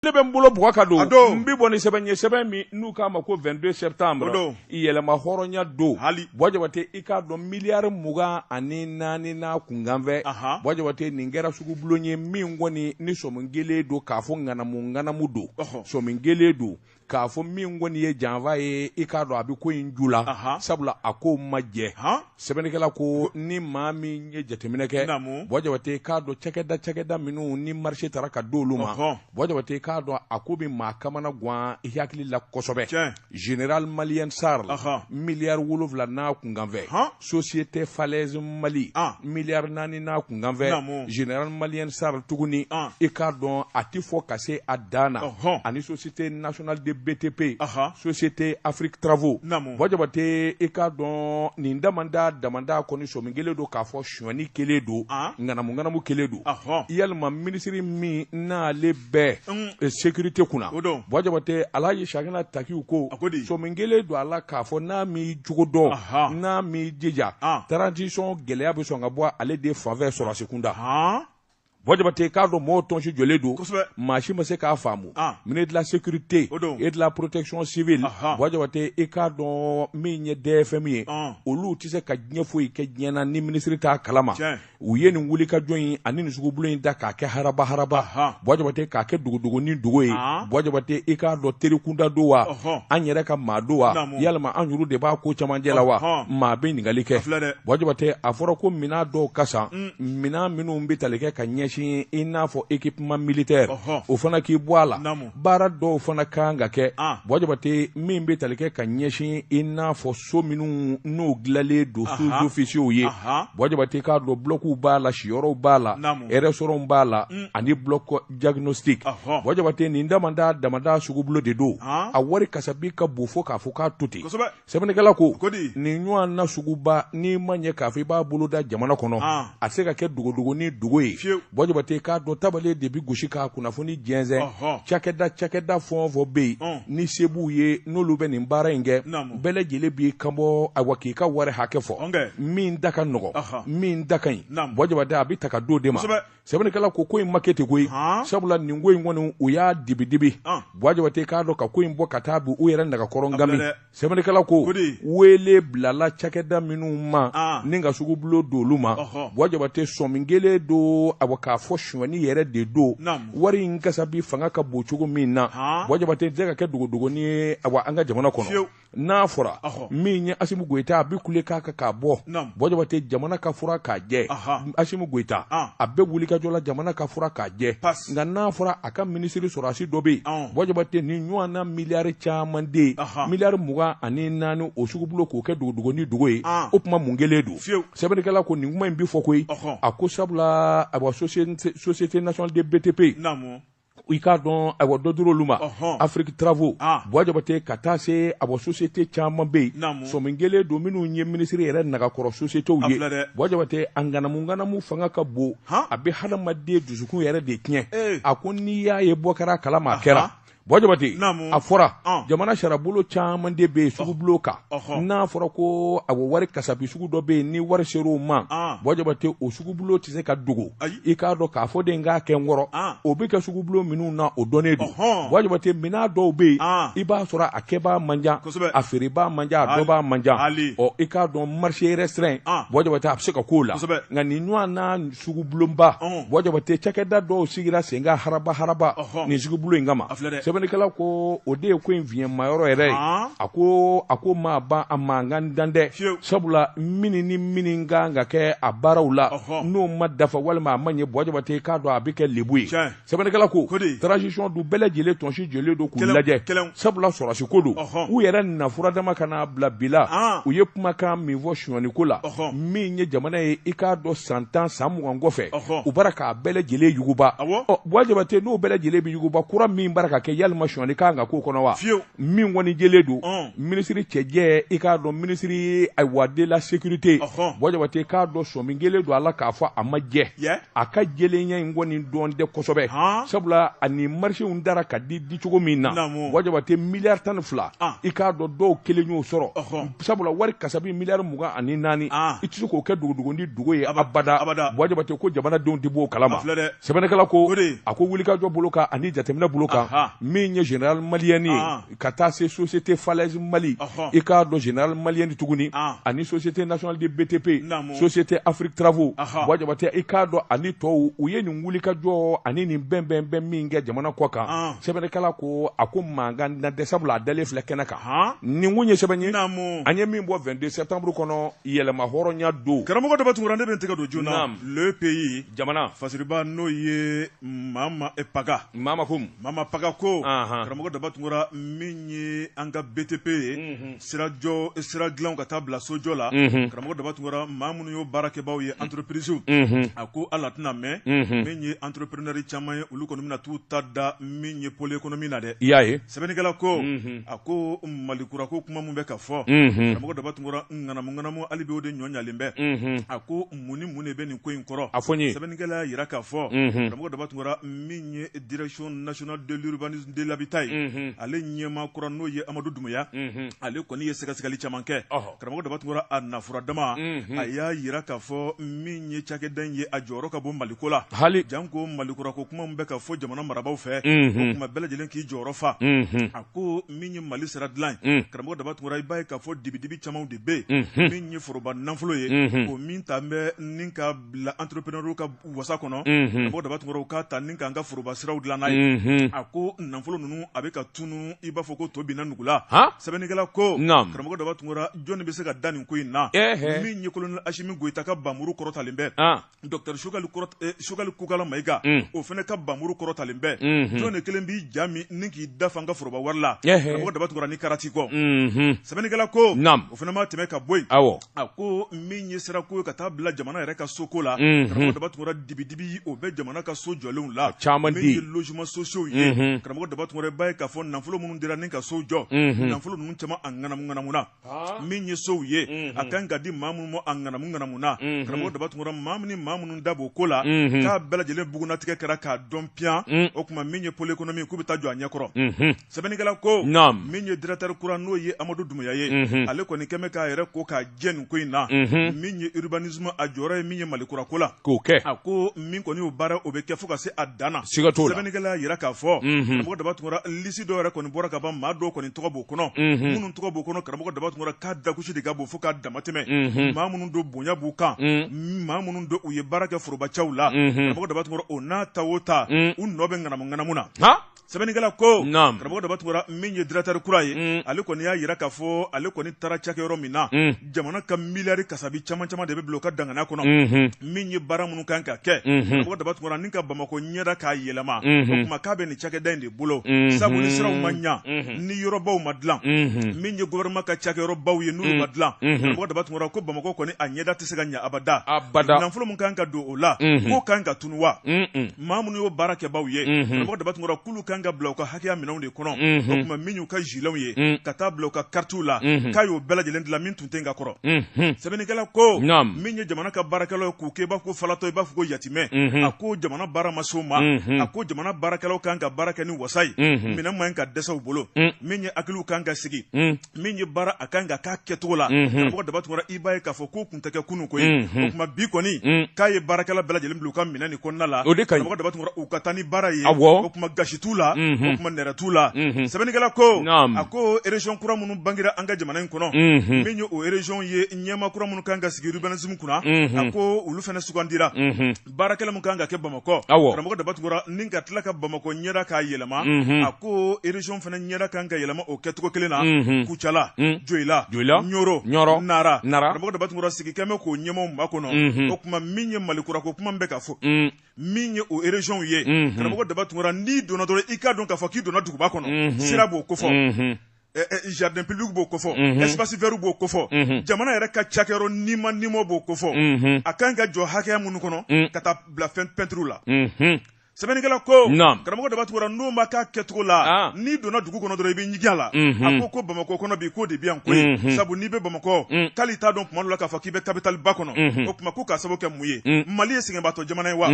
ne bɛ n bolo bugɔ ka don n bɛ bɔ ni sɛbɛn ye sɛbɛn min n'u k'a ma ko 22 septembre yɛlɛma hɔrɔnya don Buwa Jabate i k'a dɔn miliyari mugan ani naani n'a kunkanfɛ Buwa Jabate nin kɛra sugubulon ye min kɔni ni sɔmi kɛlen don k'a fɔ ŋanamu ŋanamu don sɔmi kɛlen don k'a fɔ min kɔni ye janfa ye i k'a dɔn a bɛ ko in ju la sabula a ko ma jɛ. sɛbɛnnikɛla ko ni maa min ye jateminɛ kɛ Buwa Jabate k'a dɔn cakɛda cakɛda minnu ni marché tara ka di olu ma Buwa Jabate k'a dɔn a ko bɛ maa kamana gan i hakili la kosɛbɛ général malien sarl miliyari wolonwula n'a kunkanfɛ société falaise mali miliyari naani n'a kunkanfɛ général malien sarl tuguni i k'a dɔn a tɛ fɔ ka se a dan na ani société nationale de btp société afrique travaux Buwa Jabate i k'a dɔn nin damada damada kɔni sɔmi kɛlen don k'a fɔ sonyani kɛlen don ŋanamuŋanamu kɛlen don yalima minisiri min n'ale bɛ sécurité kunna Buwa Jabate Alaji Chahana Takiou ko sɔmi kɛlen don a la k'a fɔ n'a m'i jogo dɔn n'a m'i jija transition gɛlɛya bɛ sɔn ka bɔ ale de fanfɛ sɔrɔdasi kunda Buwa Jabate k'a dɔn mɔgɔw tɔnsi jɔlen don maa si ma se k'a faamu ah. ministère de la sécurité et de la protection civile Buwa Jabate i k'a dɔn min ye dfm ye ah. olu tɛ se ka diɲɛ foyi kɛ diɲɛ na ni minisiri t'a kalama u ye nin wulikajɔ in ani nin sugubulon in da k'a kɛ haraba haraba Buwa Jabate k'a kɛ dogodogo ni dogo ye ah. Buwa Jabate i k'a dɔn terikunda don wa an yɛrɛ ka maa don wa yalima an yɛrɛ de b'a ko camancɛ la wa maa bɛ ɲininkali kɛ Buwa Jabate a fɔra ko minɛn dɔw ka san mm. minɛn minnu bɛ tali kɛ ka ɲɛsin i n'a fɔ équipement militaire o fana k'i bɔ a la baara dɔw fana kan ka kɛ Buwa Jabate min bɛ tali kɛ ka ɲɛsin i n'a fɔ so minnu n'u dilanlen don sous-officiers ye Buwa Jabate k'a dɔn bulɔkiw b'a la siyɔrɔw b'a la restaurantw b'a la ani bloc diagnostic Buwa Jabate nin damada damada sugubulon de don a wari kasabi ka bon fo k'a fɔ k'a to ten sɛbɛnnikɛla ko nin ɲɔgɔn na suguba n'i ma ɲɛ k'a fɔ i b'a bolo da jamana kɔnɔ ah. a tɛ se ka kɛ dogodogo ni dogo ye Buwa Jabate k'a dɔn tabale de bɛ gosi k'a kunnafoni jɛnsɛn cakɛda cakɛda fɛn o fɛn bɛ yen oh. ni se b'u ye n'olu bɛ nin baara in kɛ bɛɛ lajɛlen b'i kanbɔ awa k'i ka wari hakɛ fɔ min da ka nɔgɔ min da ka ɲi Buwa Jabate a bɛ ta ka d'o de ma sɛbɛnnikɛla ko ko in ma kɛ ten koyi sabula nin ko in kɔni u y'a dibidibi Buwa Jabate k'a dɔn ka ko in bɔ ka taa bi u yɛrɛ nagakɔrɔ ngami sɛbɛnnikɛla ko weele bilala cakɛda minnu ma ni ka sugubulon d'olu ma Buwa Jabate sɔmi kɛlen don a k'a fɔ sonyani yɛrɛ de don wari in kasabi fanga ka bon cogo min na Buwa Jabate tɛ ka kɛ dogodogoni ye an ka jamana kɔnɔ n'a fɔra min ye asimu goyita a bɛ kule k'a kan k'a bɔ buwa jabate jamana ka fura k'a jɛ asimu goyita a bɛ wulikajɔ la jamana ka fura k'a jɛ nka n'a fɔra a ka minisiri sɔrɔsi dɔ bɛ yen buwa jabate nin ɲɔgɔn na miliyari caman de miliyari mugan ani naani o sugubulon k'o kɛ dogo ni dogo ye o kuma mun kelen don sɛbɛnnikɛla ko nin kuma in bɛ fɔ koyi a ko sabula a société nationale de btp i k'a dɔn ayiwa dɔ dira olu ma afrique travaux ah. buwa jabate ka taa se awa société caman bɛ yen sɔmi kelen don minnu ye minisiri yɛrɛ nagakɔrɔ sociétéw ye buwa jabate a ŋanamuŋanamu fanga ka bon a bɛ hadamaden dusukun yɛrɛ de tiɲɛ a ko n'i y'a ye bɔ kɛra kalama a kɛra buwa jabate a fɔra ah. jamana sariyabolo caman de bɛ yen sugubulon kan n'a fɔra ko a wari kasabi sugu dɔ bɛ yen ni wari ser'o ma buwa jabate o sugubulon tɛ se ka dogo i k'a dɔn k'a fɔ de k'a kɛ n kɔrɔ o bɛ kɛ sugubulon minnu na o dɔnnen don buwa jabate minan dɔw bɛ yen i b'a sɔrɔ a kɛbaa man ca a feerebaa man ca a dɔnbaa man ca i k'a dɔn marché restreint buwa jabate a bɛ se ka k'o la nka nin ɲɔgɔn sugubulonba buwa jabate cakɛda dɔw sigira sen kan haraba haraba nin sugubulon in kama sɛbɛnnikɛla ko o de ye ko in fiɲɛmayɔrɔ yɛrɛ ye a ko a ko ma ban a mankan dan dɛ sabula min ni min kan ka kɛ a baaraw la n'o ma dafa walima a ma ɲɛ buwa jabate k'a dɔn a bɛ kɛ lebu ye sɛbɛnnikɛla ko ko de transition dun bɛɛ lajɛlen tɔnsi jɔlen don k'u Kɛlɛw- lajɛ kɛlɛw. sabula sɔrɔsi ko don Ɔhɔn. u yɛrɛ nafura dama ka n'a bila bi la An. u ye kumakan min fɔ sonyani ko la Ɔhɔn. min ye jamana ye i k'a dɔn san tan san mugan kɔfɛ Ɔhɔn. u bara k'a bɛɛ lajɛlen yuguba Awɔ. Ɔ, Buwa Jabate n'o bɛɛ lajɛlen bɛ yuguba kura min bara ka kɛ yalima sonyani kan ka k'o kɔnɔ wa Fiyew. min kɔni jɛlen don Ɔn. minisiri cɛjɛ i k'a dɔn minisiri ayiwa de la sécurité Ɔhɔn. Buwa Jabate k'a dɔn sɔmi kelen don a la k'a fɔ a ma jɛ Yɛ. a ka jɛlenya in kɔni dɔn tɛ kosɛbɛ sabula ani marchéw dara ka di di cogo min na buwa jabate miliyari tan ni fila ah. i k'a dɔn dɔw kelen y'o sɔrɔ sabula wari kasabi miliyari mugan ani naani ah. i tɛ se k'o kɛ dogo dogo ni dogo ye abada buwa jabate ko jamanadenw tɛ b'o kalama sɛbɛnnikɛla ko a ko wulikajɔ bolo kan ani jateminɛ bolo kan min ye général malien ye ka taa se société falaise mali i k'a dɔn général malien de tuguni ani société nationale de btp société afrique travaux buwa jabate i k'a dɔn ani tɔw u ye nin wulikajɔ ani nin bɛn bɛn bɛn min kɛ jamana kɔ kan sɛbɛnnikɛla ko a ko mankan na dɛ sabula a dalen filɛ kɛnɛ kan nin kun ye sɛbɛn ye an ye min bɔ 22 septembre kɔnɔ yɛlɛma hɔrɔnya don karamɔgɔ dɔ bɛ tugura ne bɛ tɛgɛ don joona le pays jamana fasiriba n'o ye mama paga mama ko Mama Paka ko, anhan, karamɔgɔ Daba Tunkara min ye an ka BTP ye, unhun, sira jɔ, sira dilanw ka taa bila sojɔ la, unhun, karamɔgɔ Daba Tunkara maa minnu y'o baarakɛbaaw ye entreprises unhun, a ko hali a tɛna mɛn, unhun, min ye entrepreneurs caman ye olu kɔni bɛna t'u ta da min ye pôle économique na dɛ, i y'a ye, sɛbɛnnikɛla ko, unhun, a ko Mali kura ko kuma min bɛ ka fɔ, unhun, karamɔgɔ Daba Tunkara ŋanamu ŋanamu hali bi o de ɲɔ ɲalen bɛ, unhun, a ko mun ni mun de bɛ nin ko in kɔrɔ a fɔ n ye sɛbɛnnikɛla y'a jira k'a fɔ karamɔgɔ daba tunkara min ye direction nationale de l'urbanisme de l'habitat ye ale ɲɛmaa kura n'o ye amadu dumuya ale kɔni ye sɛgɛsɛgɛli caman kɛ karamɔgɔ daba tunkara a nafura dama a y'a jira k'a fɔ min ye cakɛda in ye a jɔyɔrɔ ka bon maliko la hali janko mali kura ko kuma min bɛ ka fɔ jamana marabaaw fɛ o tuma bɛɛ lajɛlen k'i jɔyɔrɔ fa a ko min ye mali sira dilan ye karamɔgɔ daba tunkara i b'a ye k'a fɔ dibidibi camanw de bɛ min ye foroba nafolo ye o min ta bɛ ni ka bila entrepreneurw ka wasa kɔnɔ karamɔgɔ daba tunkara u k'a ta ni k'an ka foroba siraw dilan n'a ye a ko nafolo ninnu a bɛ ka tunun i b'a fɔ ko to binna nugu la sɛbɛnnikɛla ko karamɔgɔ daba tunkara jɔnni bɛ se ka da nin ko in na min ye kolonɛli asimi goyita ka banmuru kɔrɔtalen bɛ Docteur Choguel kɔrɔta ee Choguel Kokala Mayiga unhun o fɛnɛ ka banmuru kɔrɔtalen bɛ unhun jɔni de kelen b'i ja min ni k'i da fa an ka foroba wari la ɛhɛɛ karamɔgɔ Daba Tunkara ni karati kɔ unhun sɛbɛnnikɛla ko naam o fɛnɛ ma tɛmɛ ka bɔ yen awɔ a koo min ye sira ko ye ka taa bila jamana yɛrɛ ka so ko la unhun karamɔgɔ Daba Tunkara dibi-dibi ye o bɛ jamana ka so jɔlenw la ka caman di min ye logements sociaux ye unhun karamɔgɔ Daba Tunkara i b'a ye k'a fɔ nanfolo minnu dira ni ka sow jɔ unhun nanfolo ninnu caman a ŋanamu-ŋanamuna min ye sow ye a kan ka di maa minnu ma a ŋanamu ŋanamuna karamɔgɔ daba tunkara maa min maa minnu da b'o ko la k'a bɛɛ lajɛlen bugunnatigɛ kɛra k'a dɔn piyan o tuma min ye pôle économique k'u bɛ taa jɔ a ɲɛkɔrɔ sɛbɛnnikɛla ko min ye directeur kura n'o ye amadu dumuya ye ale kɔni kɛmɛ k'a yɛrɛ ko k'a jɛ nin ko in na min ye urbanisme a jɔyɔrɔ ye min ye mali kurako la k'o kɛ a ko min kɔni y'o baara o bɛ kɛ fo ka se a dan na sɛbɛnnikɛla y'a jira k'a fɔ karamɔgɔ daba tunkara lisi dɔw yɛrɛ kɔni bɔra ka ban maa dɔw kɔni tɔgɔ b'o kɔnɔ unhun minnu tɔgɔ b'o kɔnɔ karamɔgɔ daba tunkara k'a dakusi de ka bon fo k'a damatɛmɛ unhun maa minnu don bonya b'u kan un maa minnu don u ye baara kɛ forobacaw la unhun karamɔgɔ daba tunkara o n'a ta o ta un u nɔ bɛ ŋanamu ŋanamu na han sɛbɛnnikɛla ko naam karamɔgɔ daba tunkara min ye directeur kura ye un ale kɔni y'a jira k'a fɔ ale kɔni taara cakɛyɔrɔ min na un jamana ka miliyari kasabi caman caman de bɛ bila ka danganaya kɔnɔ min ye baara minnu kan ka kɛ karamɔgɔ daba tunkara ni ka bamakɔ ɲɛda k'a yɛlɛma o tuma k'a bɛ nin cakɛda in de bolo sabu ni siraw ma ɲa ni yɔrɔbaw ma dilan min ye gouvernement ka cakɛyɔrɔbaw ye n'olu ma dilan karamɔgɔ daba tunkara ko bamakɔ kɔni a ɲɛda tɛ se ka ɲa abada nanfolo min kan ka don o la k'o kan ka tunun wa maa minnu y'o baara kɛbaaw ye karamɔgɔ daba tunkara k'olu kan ka bila u ka hakɛya minɛnw de kɔnɔ o tuma min y'u ka giletw ye ka taa bila u ka karitiw la k'a y'o bɛɛ lajɛlen dilan min tun tɛ ka kɔrɔ sɛbɛnnikɛla ko min ye jamana ka baarakɛlaw k'u kɛ i b'a fɔ ko falatɔ i b'a fɔ ko yatimɛ a ko jamana baara ma s'o ma a ko jamana baarakɛlaw kan ka baara kɛ ni wasa ye minɛn man ka dɛsɛ u bolo min ye hakiliw kan ka sigi min ye baara a kan ka k'a kɛcogo la karamɔgɔ daba tunkara i b'a ye k'a fɔ k'o tun tɛ kɛ kunun koyi o tuma bi kɔni k'a ye baarakɛla bɛɛ lajɛlen bila u ka minɛn nin kɔnɔna la karamɔgɔ daba tunkara u ka taa ni baara ye o tuma gasi t'u la o tuma nɛrɛ t'u la sɛbɛnnikɛla ko a ko région kura minnu bangera an ka jamana in kɔnɔ min ye o région ye ɲɛmaa kura minnu kan ka sigi urbanisme kunna a ko olu fana sugandira baarakɛla min kan ka kɛ bamakɔ karamɔgɔ daba tunkara ni ka tila ka bamakɔ ɲɛda k'a yɛlɛma a ko région fana ɲɛda kan ka yɛlɛma o kɛcogo kelen na kucala joyila karamɔgɔ daba tunkara sigi kɛlen bɛ k'o ɲɛmaaw makɔnɔ o tuma min ye mali kura ko kuma bɛ ka fɔ min ye o régionw ye karamɔgɔ daba tunkara n'i donna dɔrɔn i k'a dɔn k'a fɔ k'i donna duguba kɔnɔ sira b'o kofɔ jardin public b'o kofɔ espace vert b'o kofɔ jamana yɛrɛ ka cakɛyɔrɔ ni ma nimo b'o kofɔ a kan ka jɔ hakɛya minnu kɔnɔ ka taa bila fɛn peinture la sɛbɛnnikɛla ko karamɔgɔ daba tunkara n'o ma k'a kɛcogo la n'i donna dugu kɔnɔ dɔrɔn i bɛ ɲigi a la a ko ko bamakɔ kɔnɔ bi k'o de bɛ yan koyi sabu n'i bɛ bamakɔ k'ale t'a dɔn tuma dɔ la k'a fɔ k'i bɛ capitale ba kɔnɔ o tuma ko k'a sababu kɛ mun ye mali ye sɛgɛnbaatɔ jamana ye wa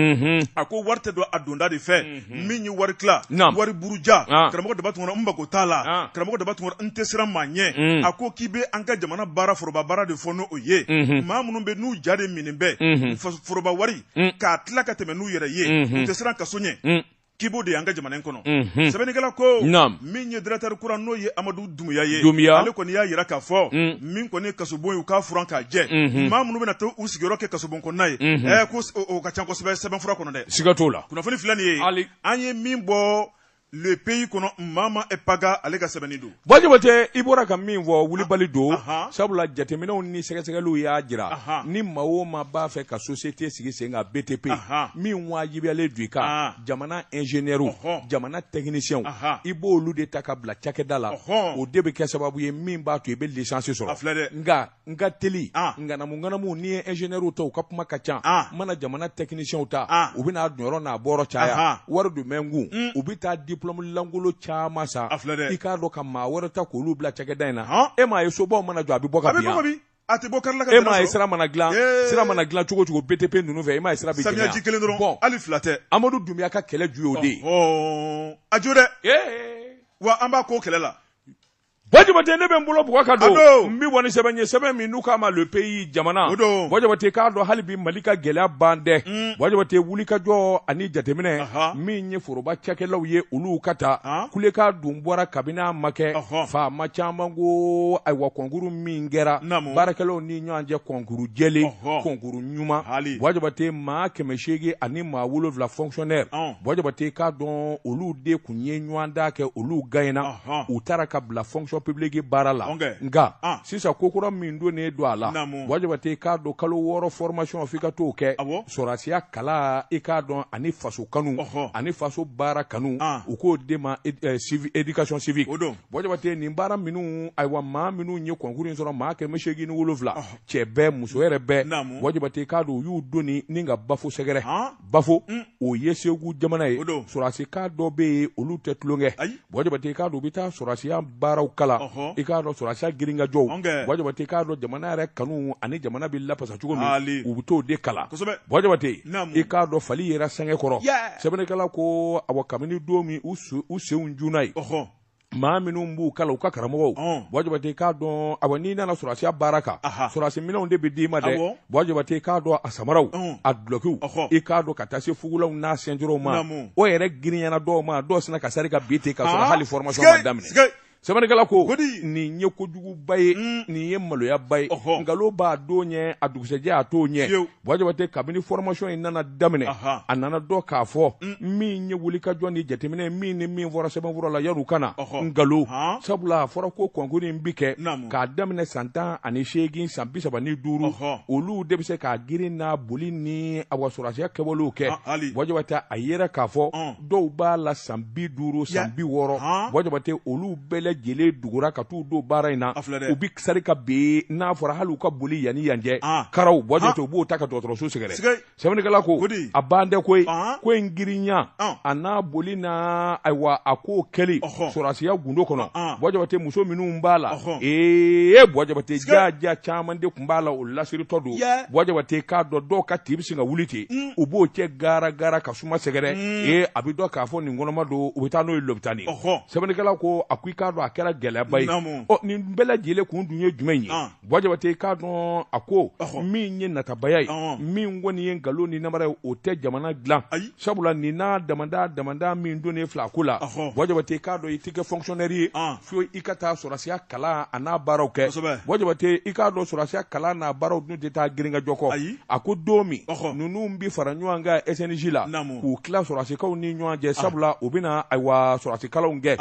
a ko wari tɛ don a donda de fɛ Hmm. min ye wari tila wari buruja ah. karamɔgɔ daba tunkara n mako t'a la ah. karamɔgɔ daba tunkara n tɛ siran maa ɲɛ hmm. a ko k'i bɛ an ka jamana baara foroba baara de fɔ n'o ye hmm. maa minnu bɛ n'u jateminɛ bɛɛ foroba wari k'a tila ka tɛmɛ n'u yɛrɛ ye u tɛ siran kaso ɲɛ k'i b'o de y'an ka jamana in kɔnɔ sɛbɛnnikɛla ko min ye directeur kura n'o ye amadu Dunbuya ye Dunbuya ale kɔni y'a jira k'a fɔ unn min kɔni ye kasobon ye u k'a furan k'a jɛ unhun maa minnu bɛna to u sigiyɔrɔ kɛ kasobon kɔnɔna ye unhun ɛɛ ko s o o ka ca kosɛbɛ sɛbɛnfura kɔnɔ dɛ siga t'o la kunnafoni filɛ nin ye ali an ye min bɔ le pays kɔnɔ Mama e Paga ale ka sɛbɛnni don Ba Jabate i bɔra ka min fɔ wulibali don anhan sabula jateminɛw ni sɛgɛsɛgɛliw y'a jira anhan ni maa o maa b'a fɛ ka société sigi sen kan BTP anhan min waajibiyalen don i kan aaan jamana ingénieurw jamana technicienw i b' olu de ta ka bila cakɛda la o de bɛ kɛ sababu ye min b'a to i bɛ licence sɔrɔ filɛ dɛ nka an ka teli ŋanamuŋanamu n'i ye ingénieurw ta u ka kuma ka ca mana jamana technicienw ta u bɛna donyɔrɔ n'a bɔyɔrɔ caya wari dun bɛ n kun u bɛ taa diplôme lankolon caman san a filɛ i k'a dɔn ka maa wɛrɛ ta k' olu bila cakɛda in na e m'a ye sobaw mana jɔ a bɛ bɔ a tɛ bɔ karila ka e m'a ye sira mana dilan sira mana dilan cogo cogo BTP ninnu fɛ e m'a ye sira bɛ gɛlɛya samiyaji kelen dɔrɔn don hali fila tɛ Amadu Dunbiya ka kɛlɛ ju ye o de ye ɔɔ a jo dɛ wa an b'a k'o kɛlɛ la Bɔ Jabate ne bɛ n bolo bugɔ ka don n bɛ bɔ ni sɛbɛn ye sɛbɛn min n'u k'a ma le pays jamana o don Bɔ Jabate k'a dɔn hali bi Mali ka gɛlɛya ban tɛ Bɔ Jabate wulikajɔ ani jateminɛ min ye foroba cakɛlaw ye olu ka ta kulekan dun bɔra kabini a ma kɛ faama caman ko ayiwa concours min kɛra baarakɛlaw ni ɲɔgɔn cɛ kɔnkuru jɛlen kɔnkuru ɲuman Bɔ Jabate maa kɛmɛ seegin ani maa wolowula fɔnɛ bajabate k'a dɔn olu de kun ye ɲɔgɔndan kɛ olu gagnena u taara ka bila fonction publique baara la nka sisan ko kura min donnen don a la Bɔ Jabate k'a dɔn kalo wɔɔrɔ formation fo i ka t'o kɛ sɔrɔsiya kalan i k'a dɔn ani faso kanu ani faso baara kanu u k'o de ma éducation civique o don bɔ jabate nin baara minnu ayiwa maa minnu ye kɔnkuru in sɔrɔ maa kɛmɛ seegin ni wolonwula cɛ bɛɛ muso yɛrɛ bɛɛ bɔ jabate k'a dɔn u y'u doni ni ka Bafo sɛgɛrɛ Bafo o ye Segu jamana ye sɔrɔdasi kan dɔ bɛ yen olu tɛ tulonkɛ bɔ jabate k'a dɔn u bɛ taa sɔrɔdasiya baaraw kalan i k'a dɔn sɔrɔdasiya girinkajɔw bɔ jabate k'a dɔn jamana yɛrɛ kanu ani jamana bɛ lapasa cogo min u bɛ t'o de kalan bɔ jabate i k'a dɔn fali yɛrɛ sɛgɛ kɔrɔ sɛbɛnnikɛla ko awa kabini don min u senw juna ye maa minnu b'u kalan u ka karamɔgɔw Ɔn. bɔ jabate k'a dɔn awa n'i nana sɔrɔsiya baara kan Aha. sɔrɔsi minɛnw de bɛ d'i ma dɛ Awɔ. bɔ jabate k'a dɔn a samaraw Ɔn. a dulɔkiw Ɔhɔ. i k'a dɔn ka taa se fugulaw n'a sɛnjorow ma Naamu. o yɛrɛ girinyana dɔw ma dɔw sinna ka sari ka bin ten ka sɔrɔ Ah, hali formation ma sike, daminɛ sike. sɛbɛnnikɛla ko Godi. nin ye kojuguba ye Mm. nin ye maloyaba ye Ɔhɔ. nkalon b'a don ɲɛ a dugusɛjɛ a t'o ɲɛ Fiyewu. Bɔ Jabate kabini formation in nana daminɛ a nana dɔn k'a fɔ mm. min ye wulikajɔ ni jateminɛ min ni min fɔra sɛbɛnfura la yan u kana nkalon sabula a fɔra ko kɔnkuru in bɛ kɛ k'a daminɛ san tan ani seegin san bi saba ni duuru olu de bɛ se k'a girin n'a boli ni awa sɔrɔsiya kɛwalew kɛ Bɔ Jabate a yera k'a fɔ dɔw b'a la san bi duuru san bi wɔɔrɔ Bɔ Jabate olu bɛɛ lajɛlen dugura ka t'u don baara in na u bɛ sari ka bin n'a fɔra hali u ka boli yan ni yan cɛ karaw Bɔ Jabate u b'o ta ka dɔgɔtɔrɔso sɛgɛrɛ sɛbɛnnikɛla ko a ban tɛ ko ye ko in girinya a n'a boli na ayiwa a k'o kɛli sɔrɔsiya gundo kɔnɔ Bɔ Jabate muso minnu b'a la ee Bɔ Jabate jaa jaa caman de tun b'a la o lasiritɔ don Bɔ Jabate k'a dɔn dɔw ka tin bɛ sin ka wuli ten u b'o cɛ gara gara ka suma sɛgɛrɛ mm. ee a bɛ dɔn k'a fɔ nin kɔnɔma don u bɛ taa n'o ye lopitani sɛbɛnnikɛla ko a ko i k'a dɔn a kɛra gɛlɛyaba ye ɔ nin bɛɛ lajɛlen kun dun ye jumɛn ye ah. buwa jabate i k'a dɔn a ko min ye natabaya ye ah. min kɔni ye nkalon ni namara ye o tɛ jamana dilan sabula nin n'a damada damada min donnen filɛ a ko la buwa jabate i k'a dɔn i tɛ kɛ fonctionnaire ye ah. fo i ka taa sɔrɔsiya kalan a n'a baaraw kɛ bɔ jabate i k'a dɔn sɔrɔsiya kalan n'a baaraw dun tɛ taa girinkajɔ kɔ ayi a ko don min ninnu bɛ fara ɲɔgɔn kan SNJ la k'u tila sɔrɔsi kanw ni ɲɔgɔn cɛ sabula u bɛna ayiwa sɔrɔsikalanw kɛ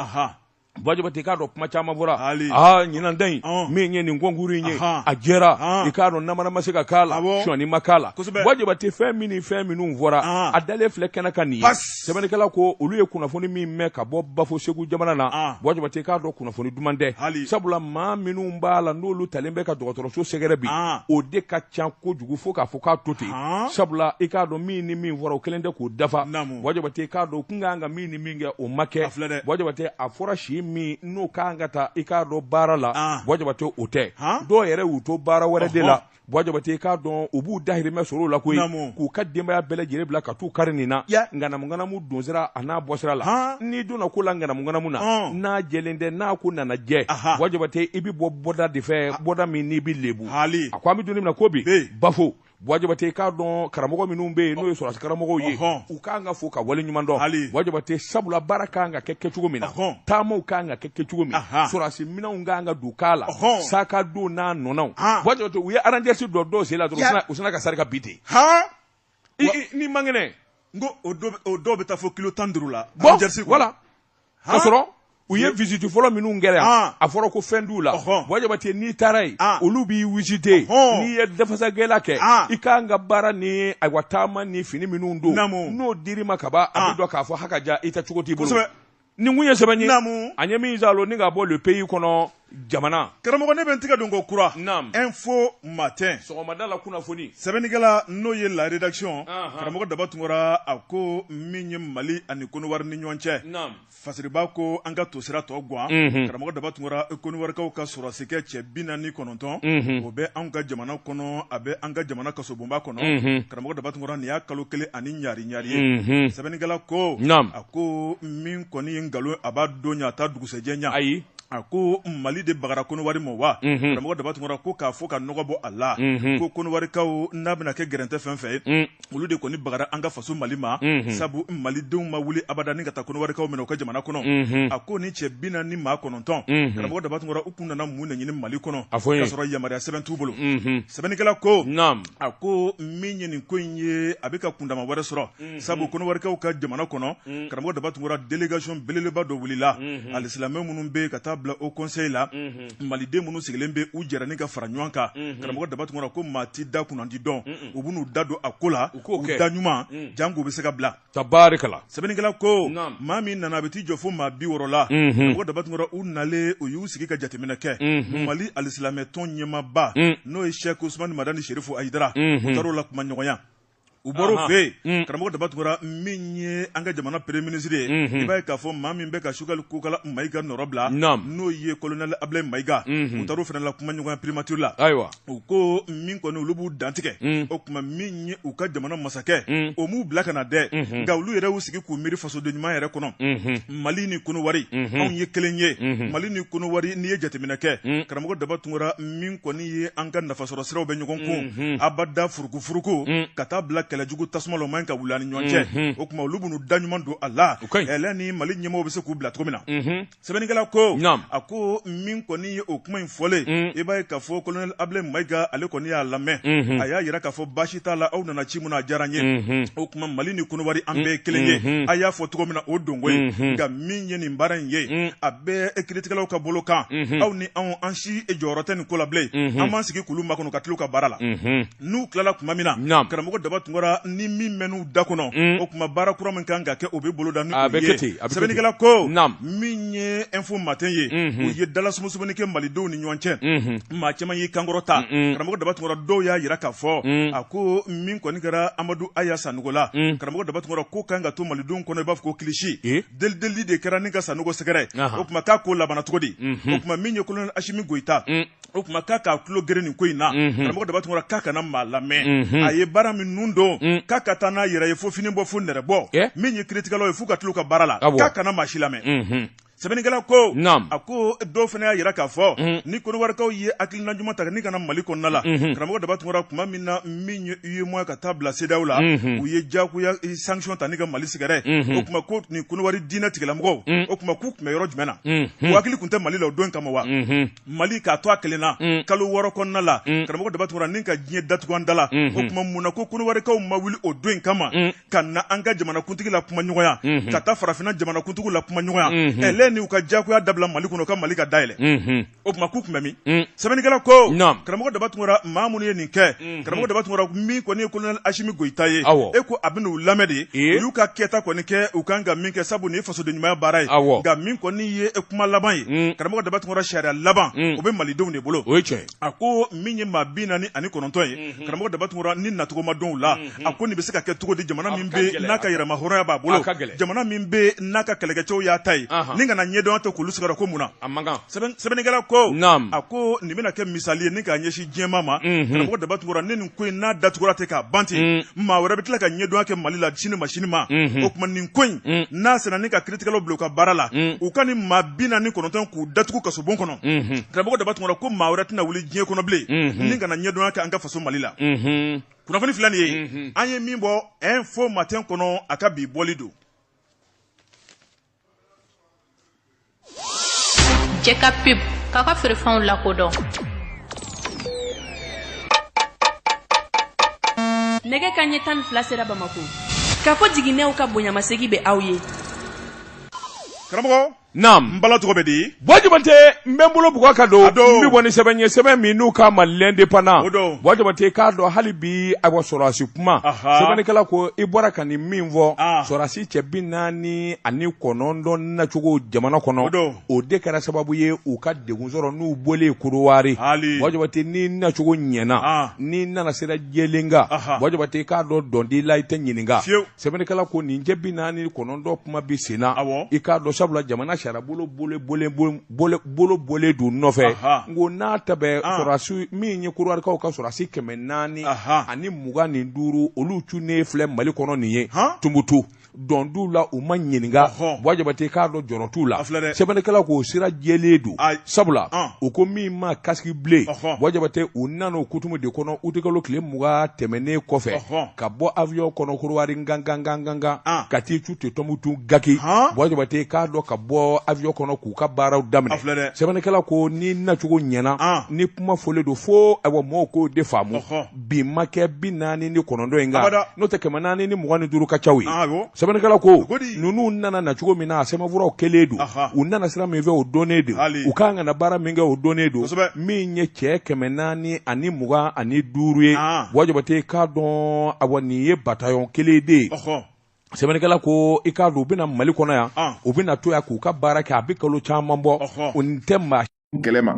Ba Jabate i k'a dɔn kuma caman fɔra haali aa ɲinan ta in min ye nin concours in ye a jɛra i k'a dɔn namara ma se ka k'a la sɔnyali ma k'a la Ba Jabate fɛn min ni fɛn minnu fɔra a dalen filɛ kɛnɛ kan nin ye. sɛbɛnnikɛla ko olu ye kunnafoni min mɛn ka bɔ bafo segu jamana na ah. bɔ jabate k'a dɔn kunnafoni duman tɛ sabula maa minnu b'a la n'olu taalen bɛ ka dɔgɔtɔrɔso sɛgɛrɛ bi ah. o de ka ca kojugu fo k'a fɔ k'a to ten ah. sabula i k'a dɔn min ni min fɔra o kelen tɛ k'o dafa bɔ jabate k'a dɔn kun ka kan ka min ni min kɛ o ma kɛ bɔ jabate a fɔra si min n'u ka kan ka ta i k'a dɔn baara la bɔ jabate o tɛ dɔw yɛrɛ y'u to baara wɛrɛ de la bɔ jabate k'a dɔn u b'u dahirimɛ sɔrɔ la koyi k'u ka denbaya bɛɛ lajɛlen bila ka taa u kari nin na ŋanamuŋanamu donsira a n'a bɔsira la n'i donna ko la ŋanamuŋanamu na n'a jɛlen tɛ n'a ko nana jɛ bɔ jabate i bɛ bɔ bɔda de fɛ bɔda min n'i bɛ lebu hali a ko an bɛ don min na ko bi bafo bɔ jabate k'a dɔn karamɔgɔ minnu bɛ yen n'o ye sɔrɔsi karamɔgɔw ye u ka kan ka fo ka waleɲumandɔn hali bɔ jabate sabula baara ka kan ka kɛ kɛ cogo min na taama ka kan ka kɛ kɛ cogo min sɔrɔsi minɛnw ka kan ka don k'a la saka don n'a ɲɔgɔnnaw bɔ jabate u ye aranjɛsi don dɔw sen la dɔrɔn u sinna ka sarika bi ten nin man kɛnɛ n ko o dɔw bɛ taa fo kilo tan duuru la aranjɛsi voilà ka sɔrɔ u ye visite fɔlɔ minnu kɛra yan a fɔra ko fɛn t'u la bɔ jabate n'i taara yen olu b'i visite n'i ye dafasagɛla kɛ i k'an ka baara ni ayiwa taama ni fini minnu don n'o dir'i ma ka ban a bɛ dɔn k'a fɔ hakaja i ta cogo t'i bolo nin kun ye sɛbɛn ye naamu an ye min zalo ni ka bɔ le pays kɔnɔ jamana karamɔgɔ ne bɛ n tigɛ don ko kura naamu info matin sɔgɔmada la kunnafoni sɛbɛnnikɛla n'o ye la rédaction karamɔgɔ daba tunkara a ko min ye mali ani koniwari ni ɲɔgɔn cɛ naamu fasiriba ko an ka tosira tɔ gwan karamɔgɔ daba tunkara koniwarikaw ka sɔrɔdasikɛ cɛ bi naani kɔnɔntɔn o bɛ anw ka jamana kɔnɔ a bɛ an ka jamana kasobonba kɔnɔ karamɔgɔ daba tunkara nin y'a kalo kelen ani ɲari ɲari ye sɛbɛnnikɛla ko naamu ko min kɔni ye nkalon a b'a don ɲɛ a t'a dugusɛjɛ ɲɛ ayi a ko mali de bagara koniwari ma wa karamɔgɔ daba tunkara ko k'a fɔ ka nɔgɔ bɔ a la ko koniwarikaw n'a bɛna kɛ gɛrɛntɛ fɛn fɛ olu de kɔni bagara an ka faso mali ma sabu malidenw ma wuli abada ni ka taa koniwarikaw minɛ u ka jamana kɔnɔ a ko ni cɛ bi naani maa kɔnɔntɔn karamɔgɔ daba tunkara u tun nana mun na ɲini mali kɔnɔ a fɔ y'a sɔrɔ yamaruya sɛbɛn t'u bolo sɛbɛnnikɛla ko a ko min ye nin ko in ye a bɛ ka kundama wɛrɛ sɔrɔ sabu konowarikaw ka jamana kɔnɔ karamɔgɔ daba tunkara délégation belebeleba dɔ wulila alisilamɛ minnu bɛ ka taa bila haut conseil la maliden minnu sigilen bɛ u jɛra ni ka fara ɲɔgɔn kan karamɔgɔ daba tunkara ko maa tɛ da kunnadi dɔn u bɛn'u da don a ko la u da ɲuman janko bɛ se ka bila tabarikala sɛbɛnnikɛla ko maa min nana a bɛ t'i jɔ fo maa bi wɔɔrɔ la karamɔgɔ daba tunkara u nalen u y'u sigi ka jateminɛ kɛ mali alisilamɛ tɔn ɲɛmaaba n'o ye sɛki usumani madani serifu ayidara u taara o la kuma ɲɔgɔnya u bɔra o fɛ yen karamɔgɔ daba tunkara min ye an ka jamana premier ministre ye i b'a ye k'a fɔ maa min bɛ ka sogɛli kokala mayiga nɔrɔ bila n'o ye kolonɛli abilayi mayiga u taara o fana la kuma ɲɔgɔn primature la ayiwa u ko min kɔni olu b'u dantigɛ o tuma min ye u ka jamana masakɛ o m'u bila ka na dɛ nka olu yɛrɛ y'u sigi k'u miiri fasoden ɲuman yɛrɛ kɔnɔ mali ni konowari anw ye kelen ye mali ni konowari n'i ye jateminɛ kɛ karamɔgɔ daba tunkara min kɔni ye an ka nafasɔrɔ siraw bɛ ɲɔgɔn kun abada furu dugufuruko mm. ka taa bila kɛlɛjugu tasuma la o man ka wuli an ni ɲɔgɔn cɛ mm-hmm. o tuma olu bɛn'u da ɲuman don a la ɛlɛ ni mali ɲɛmɔgɔ bɛ se k'u bila cogo min na mm-hmm. sɛbɛnnikɛla ko a ko min kɔni ye o kuma in fɔlen mm. i b'a ye k'a fɔ kolonɛli abilayi mayiga ale kɔni y'a lamɛn mm-hmm. a y'a yira k'a fɔ baasi t'a la aw nana ci min na a diyara n ye o tuma mali ni konowari an bɛɛ ye kelen ye a y'a fɔ cogo min na o don ko ye min ye nin baara in ye mm. a bɛ e kiritigɛlaw ka bolo kan mm-hmm. aw ni anw an si e jɔyɔrɔ tɛ nin ko la bilen mm-hmm. an b'an sigi k'olu makɔnɔ ka tila u ka baara la mm-hmm. n'u tilala tuma min na karamɔgɔ daba tunkara ni min mɛnn'u da kɔnɔ mm. o tuma baara kura min kan ka kɛ o bɛ boloda ni o ye sɛbɛnnikɛla ko min ye info matin ye u ye dalasumusumunni kɛ malidenw ni ɲɔgɔn cɛ maa caman y'i kan kɔrɔta karamɔgɔ daba tunkara dɔw y'a jira k'a fɔ mm. a ko min kɔni kɛra amadu aya sanɔgɔ la karamɔgɔ daba tunkara ko kan ka to malidenw kɔnɔ i b'a fɔ ko kilisi delili de kɛra ni ka sanɔgɔ sɛgɛrɛ o tuma k'a ko labanna cogo di o tuma min ye kolonɛli asimi goyita o tuma k'a k'a tulo geren nin ko in na karamɔgɔ daba tunkara k'a kana maa lamɛn a ye baara min nun don k'a ka taa n'a yɛrɛ ye fo fini bɔ fo nɛrɛ bɔ min ye kiritigɛlaw ye fo ka tila u ka baara la k'a kana maa si lamɛn sɛbɛnnikɛla ko Naam. a ko dɔw fana y'a jira k'a fɔ Mhm. ni koniwarikaw ye hakilina ɲuman ta ni ka na mali kɔnɔna la Mhm. karamɔgɔ daba tungara tuma min na min ye uyemowa ka taa bila sedeyawo la Mhm. u ye jagoya eh, sanction ta ni ka mali sɛgɛrɛ Mhm. o tuma ko nin koniwari diinɛ tigilamɔgɔw Mhm. o tuma k'u tun bɛ yɔrɔ jumɛn na Mhm. u hakili tun tɛ mali la o don kama wa Mhm. mali ka to a kelen na Mm. kalo wɔɔrɔ kɔnɔna la Mm. karamɔgɔ daba tungara ni ka diɲɛ datugu an da la Mhm. o tuma mun na ko koniwarikaw ma wuli o don in kama Mm. ka na an ka jamanakuntigi la kuma ɲɔgɔnya mhm. ka taa farafina jamanakuntigiw la kuma ɲɔgɔnya mhm. ɛlɛ ni u ka jagoya dabila mali kɔnɔ ka mali ka dayɛlɛ mhm. o tuma k'u tun bɛ min mm. sɛbɛnnikɛla ko karamɔgɔ daba tungara maa minnu ye nin kɛ karamɔgɔ daba tungara min kɔni ye kolonɛli asimi goyita ye e ko a bɛna u lamɛn de u y'u ka kɛta kɔni kɛ u kan ka min kɛ sabu nin ye fasoden ɲumanya baara ye nka min kɔni ye kuma laban ye mm. karamɔgɔ daba tungara sariya laban mm. o bɛ malidenw de bolo a ko min ye maa bi naani ani kɔnɔntɔn ye mhm. karamɔgɔ daba tunkara ni nacogo ma dɔn u la mhm. a ko nin bɛ se ka kɛ cogo di jamana min bɛ n'a ka yɛrɛma hɔrɔnya b'a bolo jamana min bɛ n'a ka kɛlɛkɛcɛw y'a ta ye ni kana ɲɛdɔn tɛ k'olu sigara ko mun na sɛbɛnnikɛla ko a ko nin bɛna kɛ misali ye ni k'a ɲɛsin diɲɛ maa ma mhm. karamɔgɔ daba tunkara ni nin ko in n'a datugura tɛ k'a ban ten maa wɛrɛ bɛ tila ka ɲɛdɔn kɛ mali la sini ma sini ma o tuma nin ko in n'a sera ni ka kiiritigɛlaw bila u ka baara la u ka nin maa bi naani kɔnɔntɔn k'u datugu kasobon kɔnɔ karamɔgɔ daba tunkara ko maa wɛrɛ tɛna wuli diɲɛ kɔnɔ bilen ni kana ɲɛdɔn kɛ an ka faso mali la kunnafoni fila nin ye an ye min bɔ info matin kɔnɔ a ka bi bɔli don cɛ ka pep k'a ka feerefɛnw lakodɔn nɛgɛ kanɲɛ tan ni fila sera bamakɔ k'a fɔ jiginnenw ka bonyamasegin bɛ aw ye karamɔgɔ N bala tɔgɔ bɛ di buwa jabate n bɛ n bolo bugɔ ka don n bɛ bɔ ni sɛbɛn ye sɛbɛn min n'u k'a ma l'indépendant buwa jabate k'a dɔn hali bi a wa sɔrɔdasi kuma sɛbɛnnikɛla ko i bɔra ka nin min fɔ sɔrɔdasi cɛ bi naani ani kɔnɔntɔn nacogo jamana kɔnɔ o de kɛra sababu ye u ka degun sɔrɔ n'u bɔlen kodiwari buwa jabate n'i nacogo ɲɛna n'i nana sira jɛlen kan buwa jabate k'a dɔn donda la i tɛ ɲininka sɛbɛnnikɛla ko nin cɛ bi naani kɔnɔntɔn kuma bi sen na awɔ i k'a dɔn sabula jamana sariya bolo bole don nɔfɛ Aha. n ko n'a ta bɛ Ah. sɔrɔdasi min ye kodiwarikaw ka sɔrɔdasi kɛmɛ naani Aha. ani mugan ni duuru olu cunnen filɛ mali kɔnɔ nin ye Han? tumutu donda la u ma ɲininka Ɔhɔn. buwa jabate k'a dɔn jɔrɔ t'u la A filɛ dɛ. sɛbɛnnikɛla k'o sira jɛlen don Ayi. sabula An. u ko min ma casque bleu Ɔhɔn. buwa jabate u nana o kutumu de kɔnɔ utikalo tile mugan tɛmɛnnen kɔfɛ Ɔhɔn. ka bɔ avion kɔnɔ kodiwari gangan ah. ka t'i cun ten tumutu gaki buwa jabate k'a dɔn ka bɔ avion kɔnɔ k'u ka baaraw daminɛ sɛbɛnnikɛla ko ni nacogo ɲɛna ah. ni kuma fɔlen don fo ayiwa mɔgɔw k'o de faamu bi ma kɛ bi naani ni kɔnɔntɔn in kan n'o tɛ kɛmɛ naani ni mugan ni duuru ka caw ye ah, sɛbɛnnikɛla ko ninnu nana nacogo min na a sɛbɛnfuraw kɛlen don u nana sira min fɛ o dɔnnen don u kan ka na baara min kɛ o dɔnnen don min ye cɛ kɛmɛ naani ani mugan ani duuru ye ah. buwa jabate i k'a dɔn awa nin ye batayɔn kelen de ye sɛbɛnnikɛla ko i k'a dɔn u bɛ na mali kɔnɔ yan ah. u bɛna to yan k'u ka baara kɛ a bɛ kalo caman bɔ o nin tɛ maa kelen maa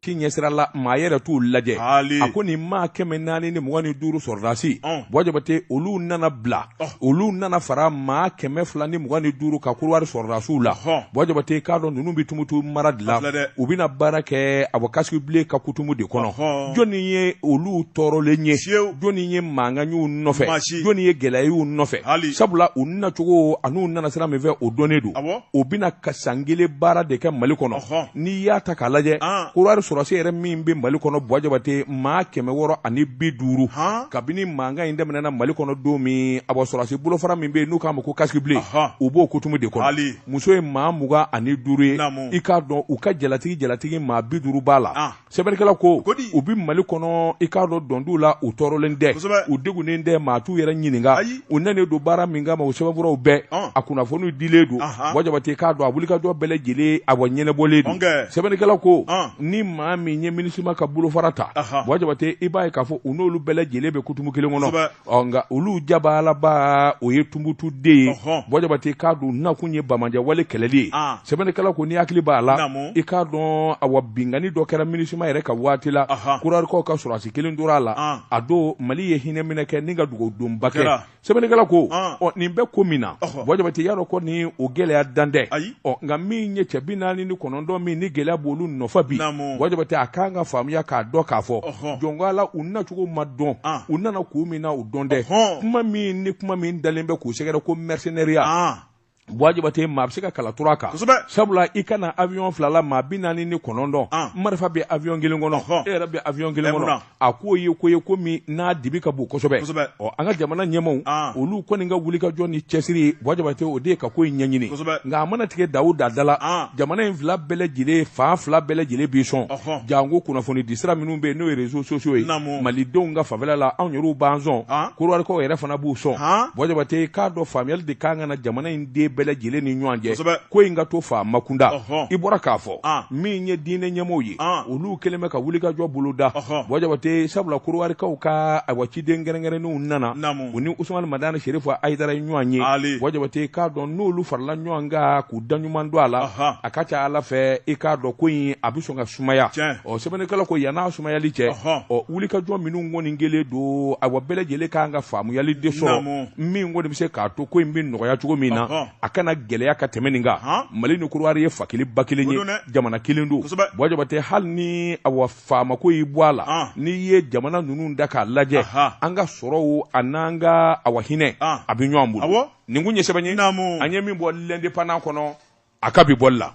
si ɲɛsira la maa yɛrɛ t'u lajɛ a ko nin maa kɛmɛ naani ni mugan ni duuru sɔrɔdasi buwa jabate olu nana bila olu nana fara maa kɛmɛ fila ni mugan ni duuru ka kuruwari sɔrɔdasiw la bɔ jabate k'a dɔn ninnu bɛ tumutu mara de la u bɛna baara kɛ a bɔ casque bleu ka kutumu de kɔnɔ jɔnni ye olu tɔɔrɔlen ye jɔnni ye mankan y'u nɔfɛ jɔnni ye gɛlɛya y'u nɔfɛ sabula u nacogo an'u nana sira min fɛ o dɔnnen don u bɛna ka san kelen baara de kɛ mali kɔnɔ n'i y'a ta k'a lajɛ kuruwari sɔrɔdasi yɛrɛ min bɛ mali kɔnɔ bɔ jabate maa kɛmɛ wɔɔrɔ ani bi duuru kabini mankan in daminɛna mali kɔnɔ don min a bɔ sɔrɔdasi bolofara min bɛ yen n'u k'a ma ko casque bleu u b'o kutumu de kɔnɔ muso ye maa mugan ani duuru ye i k'a dɔn u ka jalatigi jalatigi maa bi duuru b'a la sɛbɛnnikɛla ko u bɛ mali kɔnɔ i k'a dɔn dɔn t'u la u tɔɔrɔlen tɛ u degunnen tɛ maa t'u yɛrɛ ɲininka u nanen don baara min kama o sɛbɛnfuraw bɛɛ a kunnafoniw dilen don bɔ jabate k'a dɔn a wulikajɔ bɛɛ lajɛlen awa ɲɛnabɔlen don sɛbɛnnikɛla ko ni maa min ye minisima ka bolofara ta bɔ jabate i b'a ye k'a fɔ u n'olu bɛɛ lajɛlen bɛ kutumu kelen kɔnɔ ɔ nka olu jabalaba o ye tumbutu de ye bɔ jabate k'a dɔn nakun ye banbaanciya wale kɛlɛli ye ah. sɛbɛnnikɛla ko n'i hakili b'a la i k'a dɔn awa binkanni dɔ kɛra minisima yɛrɛ ka waati la kuruwarikaw ka sɔrɔdasi kelen tora a la ah. a don mali ye hinɛ minɛ kɛ ni ka dugawu donba kɛ sɛbɛnnikɛla ko ah. ɔ nin bɛ ko min na bɔ jabate y'a dɔn kɔni o gɛlɛya dan tɛ ɔ nka min ye cɛ bi naani ni kɔnɔntɔn min ni gɛlɛya b'olu nɔfɛ bi bɔ jabate a kan ka faamuya k'a dɔn k'a fɔ jɔn ko ala u nacogo ma dɔn ah. u nana kun min na o dɔnnen tɛ kuma min ni kuma min dalen bɛ k'u sɛgɛrɛ ko mercenariat ah. bɔ jabate maa bɛ se ka kala tur'a kan kosɛbɛ sabula i ka na avion fila la maa bi naani ni kɔnɔntɔn ah. marifa bɛ avion kelen kɔnɔ e yɛrɛ bɛ avion kelen kɔnɔ a ko ye ko ye ko min n'a dibi ka bon kosɛbɛ kosɛbɛ ɔ an ka jamana ɲɛmaaw ah. olu kɔni ka wulikajɔ ni cɛsiri bɔ jabate o de ye ka ko in ɲɛɲini kosɛbɛ nka a mana tigɛ da o da da la ah. jamana in fila bɛɛ lajɛlen fan fila bɛɛ lajɛlen b'i sɔn janko kunnafoni disira minnu bɛ yen n'o ye réseaux sociaux ye malidenw ka fanfɛla la anw yɛrɛw b'an sɔn Han. korowarikaw yɛrɛ fana b'u sɔn Han. bɔ jabate k'a dɔn faamuyali de kan ka na jamana in den bɛɛ lajɛlen ni ɲɔgɔn cɛ Kosɛbɛ. ko in ka to faamakunda Ɔhɔn. i bɔra k'a fɔ Han. min ye diinɛ ɲɛmɔgɔw ye Han. olu kɛlen bɛ ka wulikajɔ boloda Ɔhɔn. bɔ jabate sabula korowarikaw ka ayiwa ciden kɛrɛnkɛrɛnnenw nana Naamu. u ni usumani madani serifu ayidara ye ɲɔgɔn ye Ali. bɔ jabate k'a dɔn n'olu farala ɲɔgɔn kan k'u da ɲuman don a la Ɔhɔn. a ka ca ala fɛ i k'a dɔn ko in a bɛ sɔn ka sumaya Tiɲɛ. ɔ sɛbɛnnikɛla ko yann'a sumayali cɛ ɔ wulikajɔ minnu kɔni kɛlen don awa bɛɛ lajɛlen kan ka faamuyali de sɔrɔ min kɔni bɛ se k'a to ko in bɛ nɔgɔya cogo min na a kana gɛlɛya ka tɛmɛ nin kan mali ni kuruwari ye fa kelen ba kelen ye jamana kelen don bɔ jabate hali ni awa faamako y'i bɔ a la n'i ye jamana ninnu ta k'a lajɛ an ka sɔrɔw an'an ka awa hinɛ a bɛ ɲɔgɔn bolo nin kun ye sɛbɛn ye an ye min bɔ l'indépendant kɔnɔ a ka bi bɔli la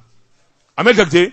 an bɛ jate